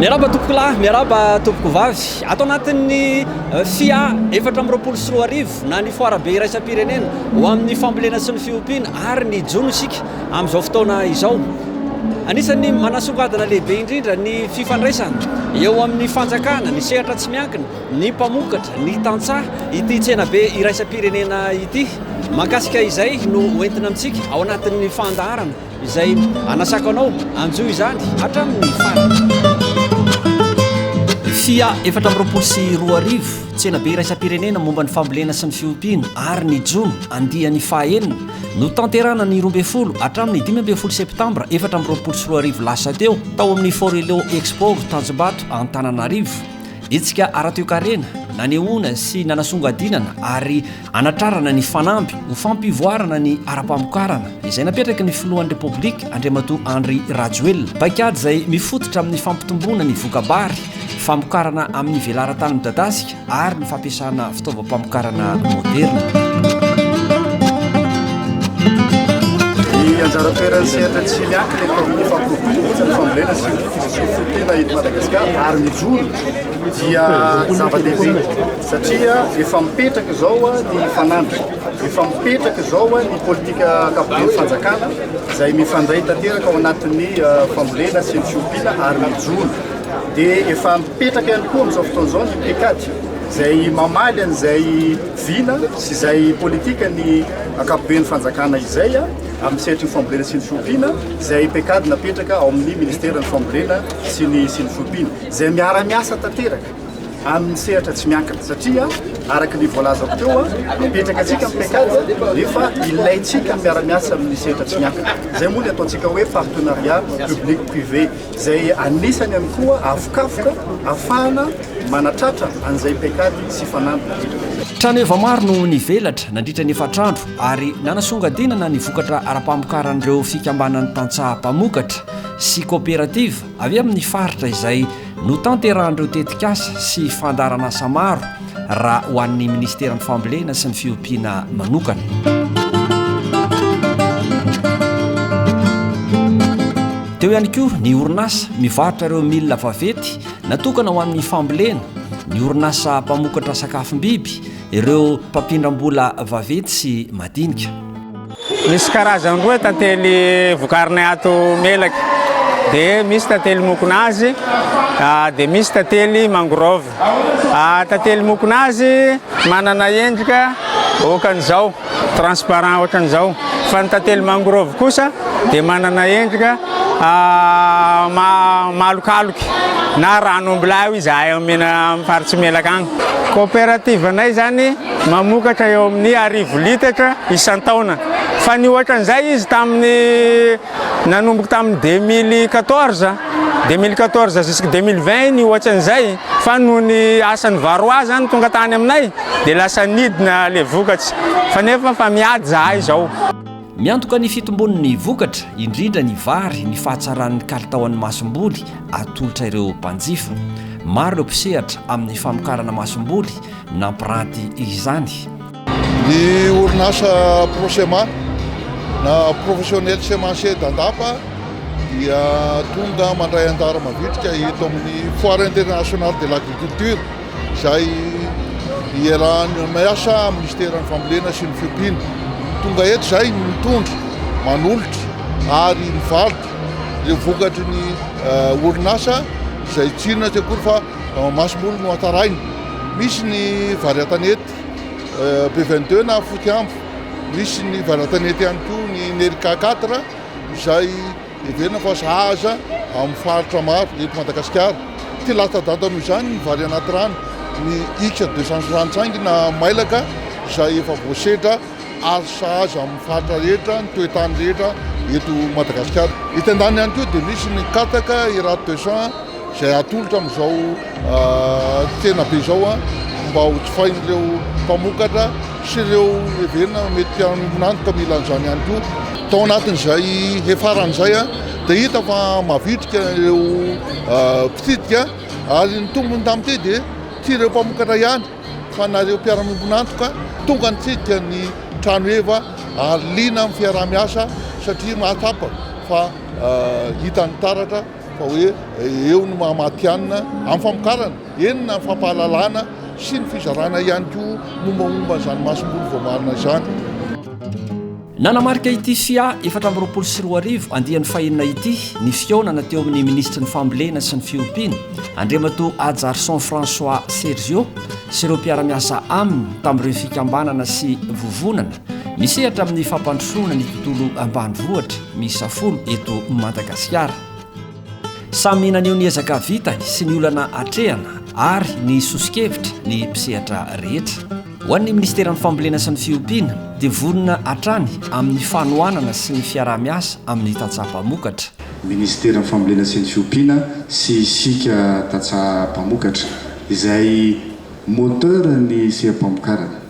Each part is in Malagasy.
Miaraba tompokolahy, miaraba tompokovavy. Ato anatin'ny eh, FIA efatra amby roapolo sy roa arivo na ny Foarabe iraisam-pirenena ho amin'ny fambolena sy ny fiompiana ary ny jono isika amin'izao fotoana izao. Anisan'ny manasongadina lehibe indrindra ny fifandraisana eo amin'ny fanjakana, ny sehatra tsy miankina, ny mpamokatra, ny tantsaha ity tsenabe iraisam-pirenena ity. Mahakasika izay no hoentina amintsika ao anatin'ny fandaharana. Izay anasako anao, anjo izany hatramin'ny farany. Fia efatra amby roapolo sy roa arivo, Tsenabe iraisam-pirenena momba ny fambolena sy ny fiompiana ary ny jono, andiany fahaenina, notanterahana ny roa ambin'ny folo hatramin'ny dimy ambin'ny folo septambra efatra amby roapolo sy roa arivo lasa teo, tao amin'ny Forello Expo, Tanjombato, Antananarivo. Hetsika ara-toekarena, nanehoana sy nanasongadinana ary. Hanatrarana ny fanamby ho fampivoarana ny ara-pamokarana izay napetraky ny filohan'ny Repoblika Andriamatoa Andry Rajoelina. Paikady izay mifototra amin'ny fampitomboana ny voka-bary, famokarana amin'ny velaran-tany midadasika ary ny fampiasana fitaovam-pamokarana moderina. anjara toeran'ny sehatra tsy miankina eto amin'ny fampitomboana ny fambolena sy ny fisosofontena eto Madagasikara ary mijoro dia zava-dehibe Satria efa mipetraka izao ny fanandrina, efa mipetraka izao ny politika ankapoben'ny fanjakana izay mifandray tanteraka ao anatin'ny fambolena sy ny fiompiana ary ny jono. Dia efa mipetraka ihany koa amin'izao fotoana izao ny pekady izay mamaly an'izay vina sy izay politika ny ankapoben'ny fanjakana izay amin'ny sehatry ny fambolena sy ny fiompiana izay pekady napetraka ao amin'ny ministeran'ny fambolena sy ny sy ny fiompiana izay miara-miasa tanteraka. amin'ny sehatra tsy miankina satria araka ny voalazako teo mipetraka antsika amin'ny pecade nefa ilaintsika miara-miasa amin'ny sehatra tsy miankina izay moa ny ataontsika hoe partenariat public privé izay anisany ihany koa avokafoka afahana manatratra an'izay pecade sy fanamby Trano efa maro no nivelatra nandritra ny efatr'andro ary nanasongadinana ny vokatra ara-pamokaran'ireo fikambanan'ny tantsaha mpamokatra sy koperativa Avy eo amin'ny faritra izay notanterahan'ireo tetikasa sy fandaharanasa maro raha ho an'ny Ministeran'ny Fambolena sy ny Fiompiana manokana. Teo ihany koa ny orinasa mivarotra ireo milina vavety natokana ho amin'ny fambolena, ny orinasa mpamokatra sakafom-biby, ireo mpampindram-bola vavety sy madinika. Misy karazany roa tantely vokarinay ato Melaky, dia misy tantely mokonazy, dia misy tantely mangrove. Tantely mokonazy manana endrika ohatran'izao, transparent ohatran'izao, fa ny tantely mangrove kosa dia manana endrika malokaloky na rano ombilahy hoy izahay amin'ny farits'i Melaky agny. Coopérative-nay izany. Mamokatra eo amin'ny arivo litatra isan-taona. Fa ny ohatran'izay izy tamin'ny nanomboka tamin'ny deux mille quatorze, deux mille quatorze jusqu'à deux mille vingt ny ohatran'izay. Fa noho ny asan'ny Varroa zany tonga tany aminay dia lasa nidina le vokatra. Fa nefa fa miady zahay izao. Miantoka ny fitombon'ny vokatra, indrindra ny vary, ny fahatsaran'ny kalitaon'ny masomboly atolotra ireo mpanjifa. Maro ireo mpisehatra amin'ny famokarana masomboly. nampiranty izany. Ny orinasa Prosema na Professionnel Semencier d'Andapa dia tonga mandray anjara mavitrika eto amin'ny Foire Internationale de l'Agriculture izay iarahan'ny miasa Ministeran'ny Fambolena sy ny Fiompiana. Tonga eto izay mitondra, manolotra ary mivarotra ireo vokatry ny orinasa izay tsinona tsy akory fa Ao Masomboly no hatsaraina. Misy ny vary an-tanety be 22 na foty ambo. Misy ny vary an-tanety ihany koa ny Nerica 4 izay heverina fa sahaza amin'ny faritra maro eto Madagasikara. Tsy latsa-danja noho izany ny vary anaty rano, ny Ika 265 na mailaka izay efa voasedra Azo sahaza amin'ny faritra rehetra, ny toetany rehetra eto Madagasikara. Etsy andaniny ihany koa dia misy ny katsaka Hérard de Champs izay atolotra amin'izao tsena be izao mba ho jifain'ireo mpamokatra sy ireo heverina mety hihaonantoka mila an'izany ihany koa. Tao anatin'izay hefarana izay dia hita fa mavitrika ireo mpitsidika ary ny tombony tamin'ity dia tsy ireo mpamokatra ihany fa nareo mpiara-miombon'antoka tonga nitsidika ny trano heva ary liana amin'ny fiaraha-miasa satria mahatsapa fa hitan'ny taratra fa hoe eo ny mahamatihanina amin'ny famokarana eny na fampahalalana sy ny fizarana ihany koa mombamomba izany masomboly voamarina izany. Nanamarika ity sia efatra amby roapolo sy roa arivo andiany fahenina ity ny fihaonana teo amin'ny minisitry ny Fambolena sy ny Fiompiana, Andriamatoa Hajarison François Sergio sy ireo mpiara-miasa aminy tamin'ireo fikambanana sy vovonana misehatra amin'ny fampandrosoana ny tontolo ambanivohitra miisa folo eto Madagasikara. Samy naneho ny ezaka vitany sy ny olana atrehana ary ny soso-kevitra ny mpisehatra rehetra. Ho an'ny Ministeran'ny Fambolena sy ny Fiompiana dia vonona hatrany amin'ny fanohanana sy ny fiaraha-miasa amin'ny tantsaha mpamokatra. Ministeran'ny Fambolena sy ny Fiompiana sy isika tantsaha mpamokatra izay moteur ny seha-pamokarana.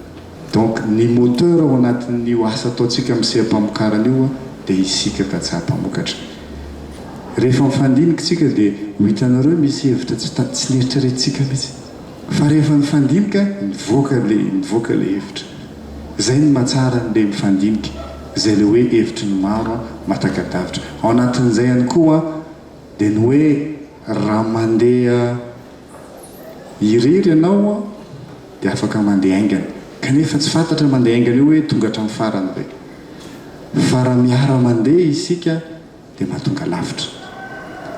Donc ny moteur ao anatin'io asa ataontsika amin'ny seha-pamokarana io dia isika tantsaha mpamokatra. Rehefa mifandiniky tsika dia ho hitanareo misy hevitra tsy ta-tsy neritreretintsika mihitsy. Fa rehefa mifandinika mivoaka ilay mivoaka ilay hevitra. Izay no mahatsara an'ilay mifandinika, izay ilay hoe hevitry ny maro an, mahataka-davitra. Ao anatin'izay ihany koa an, dia ny hoe raha mandeha irery ianao an, dia afaka mandeha haingana. Kanefa tsy fantatra mandeha haingana io hoe tonga hatramin'ny farany ve. Fa raha miara-mandeha isika. dia mahatonga lavitra.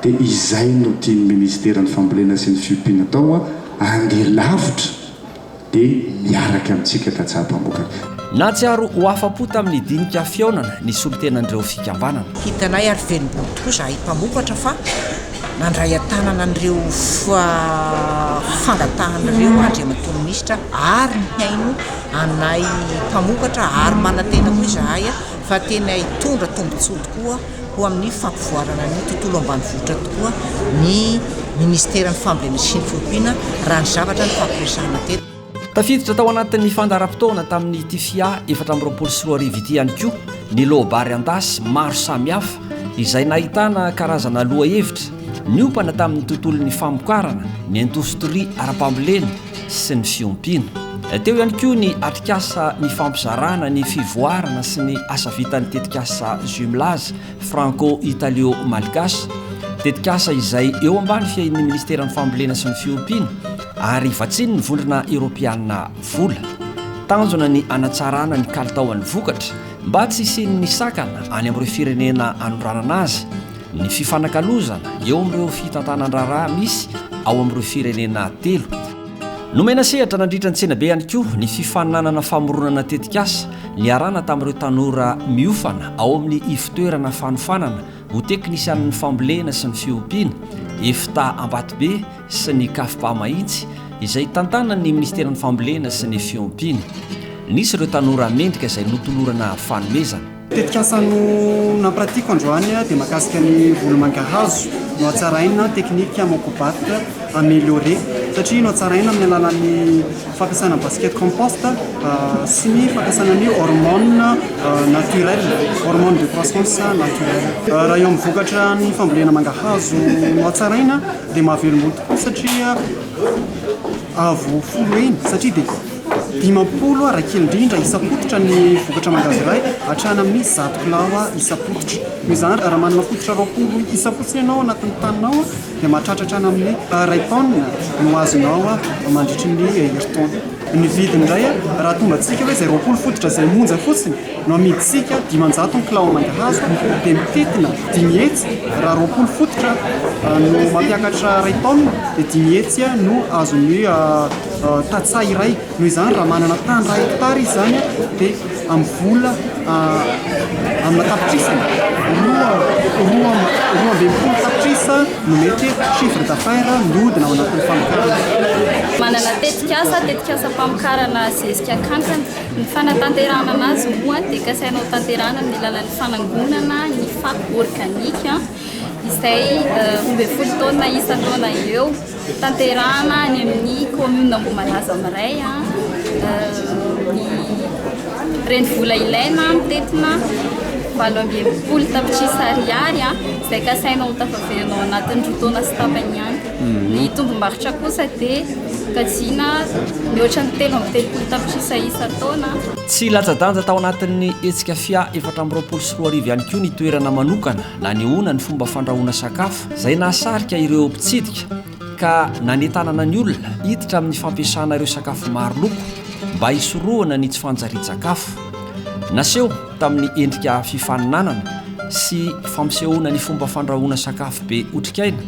Dia izay no tian'ny Ministeran'ny Fambolena sy ny Fiompiana atao hoa, andeha lavitra dia miaraka amintsika tantsaha mpamokatra. Nahatsiaro ho afa-po tamin'ny dinika fihaonana ny solontenan'ireo fikambanana. Hitanay ary velom-bolo tokoa izahay mpamokatra fa nandray an-tanana an'ireo fangatahan'ireo Andriamatoa Minisitra ary mihaino anay mpamokatra ary manantena koa izahay fa tena hitondra tombontsoa tokoa ho amin'ny fampivoarana ny tontolo ambanivohitra tokoa ny Ministeran'ny Fambolena sy ny Fiompiana, raha ny zavatra nifampiresahana teto. Tafiditra tao anatin'ny fandaharam-potoana tamin'ity fia efatra amby roapolo sy roa arivo ity ihany koa ny loabary an-dasy maro samihafa izay nahitana karazana lohahevitra niompana tamin'ny tontolon'ny famokarana, ny indostria ara-pambolena, sy ny fiompiana. Teo ihany koa ny atrikasa nifampizarana ny fivoarana sy ny asa vitan'ny tetikasa Jumelage franco-italio-malgache, tetikasa izay eo ambany fiahian'ny Ministeran'ny Fambolena sy ny Fiompiana ary vatsian'ny Vondrona Eoropeana vola. Tanjona ny hanatsarana ny kalitaon'ny vokatra mba tsy hisian'ny sakana any amin'ireo firenena anondranana azy. Ny fifanakalozana eo amin'ireo fitantanan-draharaha misy ao amin'ireo firenena telo. Nomena sehatra nandritra ny tsenabe ihany koa ny fifaninanana famoronana tetikasa niarahana tamin'ireo tanora miofana ao amin'ny Ivotoerana Fanofanana ho Teknisianin'ny Fambolena sy ny Fiompiana, Efta Ambatobe sy ny Cafpa Mahitsy, izay tantanan'ny Minisiteran'ny Fambolena sy ny Fiompiana. Nisy ireo tanora mendrika izay notolorana fanomezana. Tetikasa no nampiratiako androany dia mahakasika ny volo mangahazo no hatsaraina teknika moko bat amélioré satria no hatsaraina amin'ny alalan'ny fampiasana basket compost sy ny fampiasana ny hormone naturel hormone de croissance naturel raha eo amin'ny vokatra ny fambolena mangahazo no hatsaraina dia mahavelombolo tokoa satria Avo folo heny satria dia dimampolo aho raha kely indrindra isam-pototra ny vokatra mangahazo iray hatrany amin'ny zato kilao isam-pototra. Noho izany, raha manana fototra roapolo isa fotsiny ianao ao anatin'ny taninao dia mahatratra hatrany amin'ny iray taonina no azonao mandritry ny herintaona. Ny vidiny indray raha tonga antsika hoe izay roapolo fototra izay monja fotsiny No amidintsika dimanjato ny kilao mangahazo dia mitentina dimy hetsy raha roapolo fototra no mampiakatra iray taonina dia dimy hetsy no azon'ny tantsaha iray. Noho izany raha manana tany iray hektara izy izany dia amin'ny vola amina tapitrisany roa roa roa ambin'ny folo tapitrisa no mety hoe chiffre d'affaires mihodina ao anatin'ny famokarana. Manana tetikasa, tetikasa famokarana zezika kankana. Ny fanatanterahana anazy moa dia kasaina ho tanterahana amin'ny alalan'ny fanangonana ny fako organika izay roa ambin'ny folo taonina isan-taona eo. Tanterahana any amin'ny commune Ambohimalaza Miray ny renivola ilaina mitetina valo amby enimpolo tapitrisa ariary izay kasaina ho tafaverina ao anatin'ny roa taona sy tapany ihany. Ny tombom-barotra kosa dia kajiana mihoatra ny telo amby telopolo tapitrisa isan-taona. Tsy latsa-danja tao anatin'ny hetsika fia efatra amby roapolo sy roa arivo ihany koa ny toerana manokana nanehoana ny fomba fandrahoana sakafo izay nahasarika ireo mpitsidika ka nanentanana ny olona hiditra amin'ny fampiasana ireo sakafo maro loko mba hisorohana ny tsy fanjarian-tsakafo naseho tamin'ny endrika fifaninanana sy fampisehoana ny fomba fandrahoana sakafo be otrikaina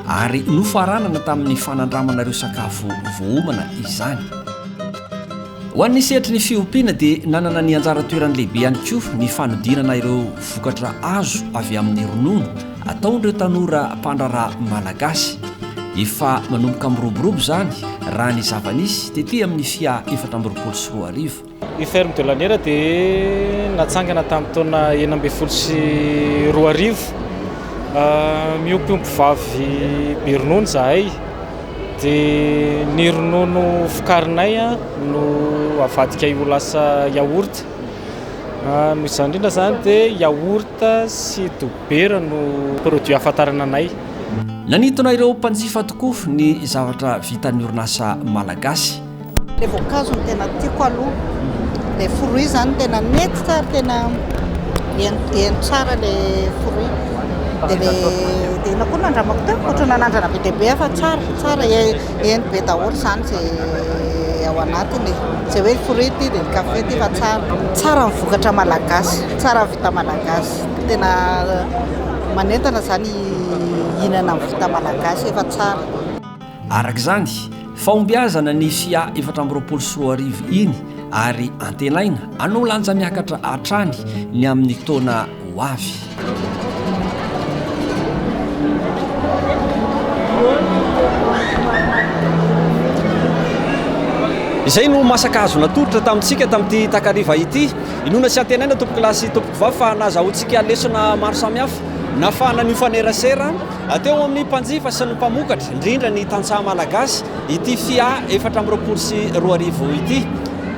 ary nofaranana tamin'ny fanandramana ireo sakafo voaomana izany. Ho an'ny sehatry ny fiompiana dia nanana ny anjara toerany lehibe ihany koa ny fanodirana ireo vokatra azo avy amin'ny ronono ataon'ireo tanora mpandraharaha malagasy. Efa manomboka miroborobo izany raha ny zava-nisy tety amin'ny FIA efatra amby roapolo sy roa arivo. Ny Ferme de Laniera dia natsangana tamin'ny taona enina ambin'ny folo sy roa arivo. Miompy ompivavy be ronono izahay, dia ny ronono vokarinay no avadikay ho lasa yaourt. Noho izany indrindra izany dia yaourt sy dobera no produits ahafantarana anay. Nanintona ireo mpanjifa tokoa ny zavatra vitan'ny orinasa malagasy. Ilay voankazo no tena tiako aloha. Ilay fruit izany tena nety tsara, tena heno tsara ilay fruit. Dia ilay inona koa no nandramako teo? Ohatran'ny nanandrana be dia be aho fa tsara, tsara, heno be daholo izany izay ao anatiny e. Tsy hoe fruit ity dia kafe ity fa tsara. Tsara ny vokatra malagasy, tsara ny vita malagasy. Tena manentana izany hihinana ny vita malagasy fa tsara. Araka izany, fahombiazana ny fia efatra amby roapolo sy roa arivo iny ary antenaina hanao lanja miakatra hatrany ny amin'ny taona ho avy. Izay no masaka azo natolotra tamintsika tamin'ity takariva ity. Inoana sy antenaina tompokolahy sy tompokovavy fa nahazahoantsika lesona maro samihafa nahafahana nifanerasera Teo amin'ny mpanjifa sy ny mpamokatra, indrindra ny tantsaha malagasy, ity Fia efatra amby roapolo sy roa arivo ity.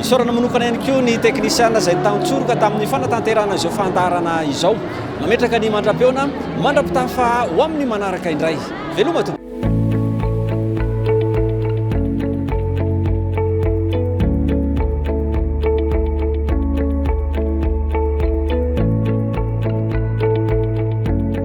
Isaorana manokana ihany koa ny teknisiana izay tantsoroka tamin'ny fanatanterahana izao fandaharana izao. Mametraka ny mandra-peona mandra-pitafa ho amin'ny manaraka indray. Veloma tompoko.